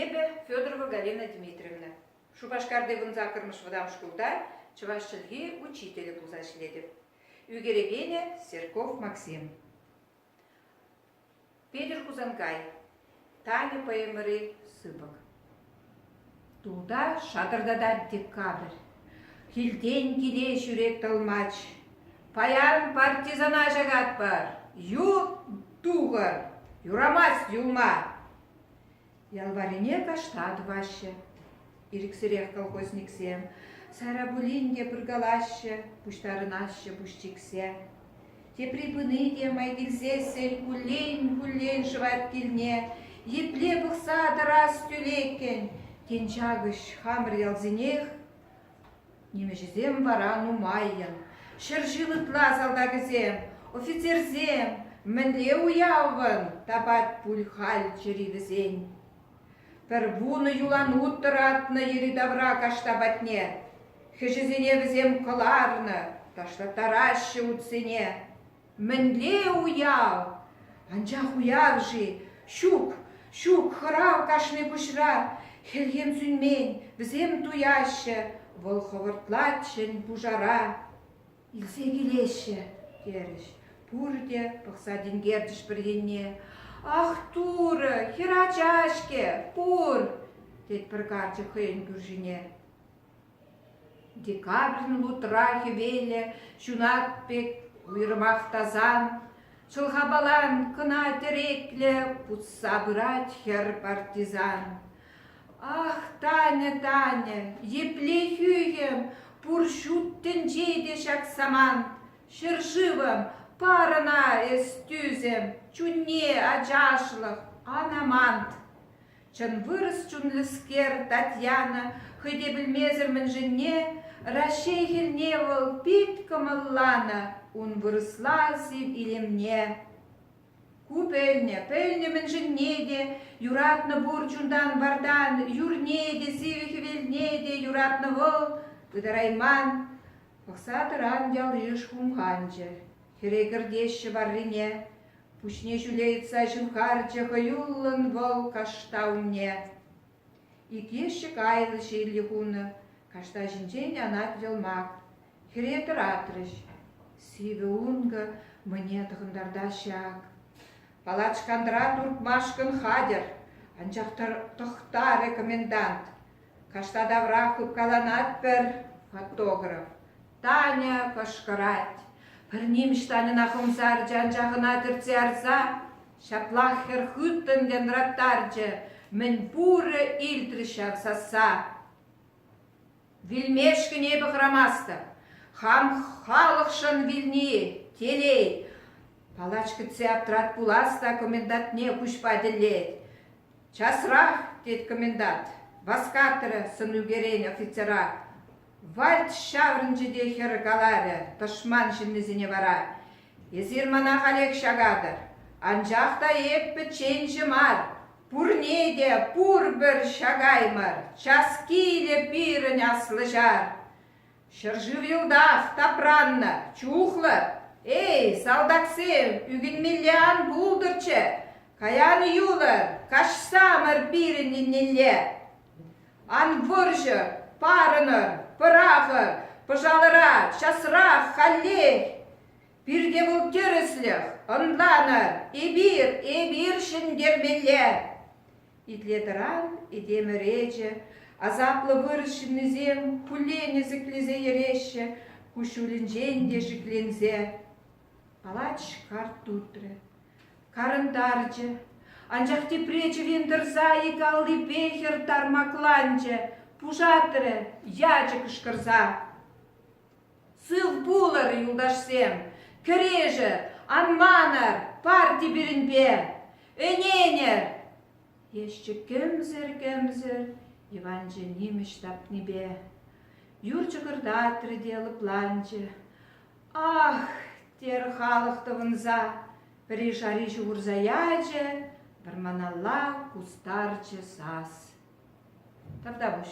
Эпӗ Федорова Галина Дмитриевна. Шупашкарти вун саккӑрмӗш вӑтам шкулта чӑваш чӗлхи учителӗ пулса ӗҫлетӗп. Ӳкерекенӗ Серков Максим. Петӗр Хусанкай, Таня поэмӑри сыпӑк. Тулта шатӑртатать декабрь. Килтен киле ҫӳрек тӑлмач. Паян партизана ҫакатпӑр. Ют тухӑр, юрамасть юлма. Ял варрине кашта тӑваҫҫӗ. Ирӗксӗрех колхозниксем сайра пулин те пыркалаҫҫӗ, пуҫтарӑнаҫҫӗ пуҫ чиксе. Тепри пыни те май килсе сӗл куллен-куллен шӑвать килне, епле пӑхса тӑрас тӳлеккӗн, тен, Чакӑҫ хамӑр ялсенех? Нимӗҫӗсем вара нумаййӑн. Ҫӗр-шыв ытла салтакӗсем, офицерсем, мӗнле уявӑн тапать пуль халь чӗри вӗсен? Пӗр вунӑ юлан ут тӑратнӑ йӗри-тавра кашта патне. Хӗҫӗсене вӗсем кӑларнӑ, ташлаттараҫҫӗ утсене. Мӗнле уяв! Анчах уяв-ши? Ҫук, ҫук, хӑрав кашни пуҫра. Хӗлхем сӳнмен, вӗсем туяҫҫӗ, вӑл хӑвӑртлать ҫӗн пушара. Илсе килеҫҫӗ, терӗҫ. Пурте пӑхса тинкерчӗҫ пӗр енне. Ах, Турӑ, хӗр ача-ҫке, пур! тет пӗр карчӑк хӑйӗн кӳршине. Декабрьӑн лутра хӗвелӗ ҫунат пек уйрӑмах тасан, чӑлхапалан кӑна тӗреклӗ путса пырать хӗр партизан. Ах, Таня, Таня, епле хӳхӗм, пур ҫут тӗнче те ҫак самант. Ҫӗршывӑм, парӑна эс тӳсӗм, чунне ачашлӑх, ан амант. Чӑн вырӑс чунлӑскер Татьяна хӑй те пӗлмесӗр мӗншӗнне Раҫҫей хӗлне вӑл пит кӑмӑлланӑ ун вырӑсла сив илемне. Ку пӗлнӗ, пӗлнӗ мӗншӗнне те, юратнӑ пур чунтан вартан, юрне те, сивӗ хӗвелне те юратнӑ вӑл, пытарайман. Пӑхса тӑран ялйыш хумханчӗ. Хӗре кӗртеҫҫӗ варрине, пуҫне ҫӳле йӑтса ҫывхарчӗ хӑюллӑн вӑл кашта умне. Иккӗшӗ кайнӑ ҫилли хунӑ, каштаҫӗнчен янать йӑлмак. Хӗре тӑратрӗҫ. Сивӗ ункӑ мӗне тӑхӑнтартаҫҫӗ ак. Палачкантӑра туртмашкӑн хатӗр, анчах тӑхтарӗ комендант. Кашта тавра хыпкаланать пӗр фотограф. Таня кӑшкӑрать. Пӗр нимӗҫ Таньӑна хӑмса ӗрчи анчах ӑна тӗртсе ярса ҫаплах хӗр хыттӑн янраттарчӗ. Мӗн пурӗ илтрӗ ҫав сасса. Вилмешкӗн эпӗ хӑрамастӑп. Хам халӑхшӑн вилни, телей. Палач кӗтсе аптрать пулас та комендантне куҫпа тӗллет. Часрах, тет комендант, васкатрӗ сӑн ӳкерен офицера. Вальт ҫаврӑнчӗ те хӗр каларӗ тӑшман ҫыннисене вара: «Эсир мана халех ҫакатӑр, анчах та эп пӗчченҫӗ мар, пурне те пурпӗр ҫакаймӑр, час килӗ пирӗн аслӑ ҫар. Ҫӗршыв йӑлтах тапраннӑ, чухлӑр. Эй, салтаксем, ӳкӗнмелле ан пултӑрччӗ, каян юлӑр, каҫсамӑр пирӗн еннелле!» Ан вӑрҫӑ, парӑнӑр, пӑрахӑр, пӑшалӑра, часрах, халех! Пирте вӑл тӗрӗслӗх, ӑнланӑр, эпир, эпир ҫӗнтермелле! Итле-тӑран этем ӗречӗ, асаплӑ вырӑс ҫыннисем хуллен ӗсӗклесе йӗреҫҫӗ, куҫҫулӗнчен те шикленсе. Палач карт утрӗ. Карӑнтарчӗ. Анчах тепре чӗвен тӑрса ик аллипе хӗр тармакланчӗ, пушатрӗ ячӗ кӑшкӑрса. Сыв пулӑр, юлташсем! Кӗрешӗр! Ан манӑр парти пирӗнпе! Ӗненӗр! Ӗҫчӗ кӗмсӗр-кӗмсӗр Иванчӑ нимӗҫ тапнипе. Юр чӑкӑртатрӗ те лӑпланчӗ. Ах, терӗ халӑх тӑвӑнса, пӗри шари ҫухӑрса ячӗ, вӑрманалла кустарчӗ сас. Тавтапуҫ.